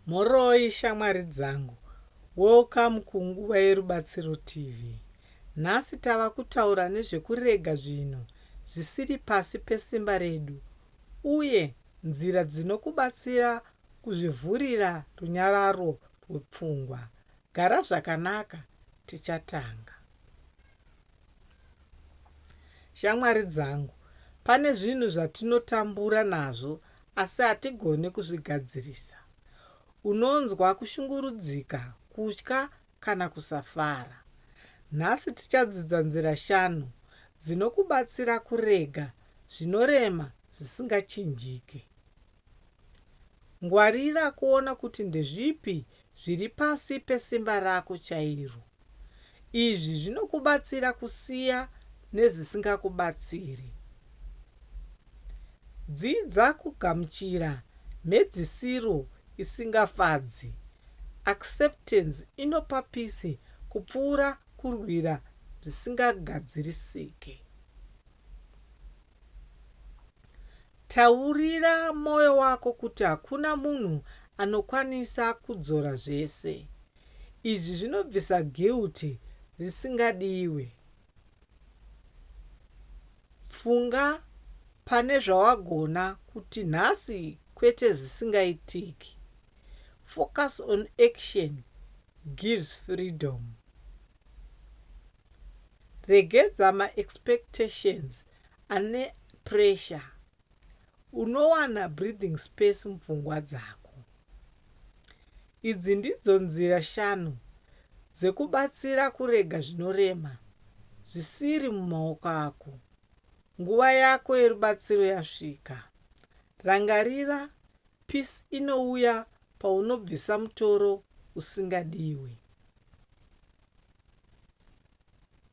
Mhoroi shamwari dzangu, welcome kunguva yerubatsiro TV. Nhasi tava kutaura nezvekurega zvinhu zvisiri pasi pesimba redu uye nzira dzinokubatsira kuzvivhurira runyararo rwepfungwa. Gara zvakanaka, tichatanga. Shamwari dzangu, pane zvinhu zvatinotambura nazvo asi hatigone kuzvigadzirisa. Unonzwa kushungurudzika, kutya kana kusafara. Nhasi tichadzidza nzira shanu dzinokubatsira kurega zvinorema zvisingachinjike. Ngwarira kuona kuti ndezvipi zviri pasi pesimba rako chairo. Izvi zvinokubatsira kusiya nezvisingakubatsiri. Dzidza kugamuchira mhedzisiro isingafadzi. Acceptance inopa peace kupfuura kurwira zvisingagadzirisike. Taurira mwoyo wako kuti hakuna munhu anokwanisa kudzora zvese. Izvi zvinobvisa guilt risingadiwe. Funga pane zvawagona kuti nhasi kwete zvisingaitiki. Focus on action gives freedom. Regedza ma expectations ane pressure unowana breathing space mupfungwa dzako. Idzi ndidzo nzira shanu dzekubatsira kurega zvinorema zvisiri mumaoko ako. Nguva yako yerubatsiro yasvika. Rangarira Peace inouya paunobvisa mutoro usingadiwe.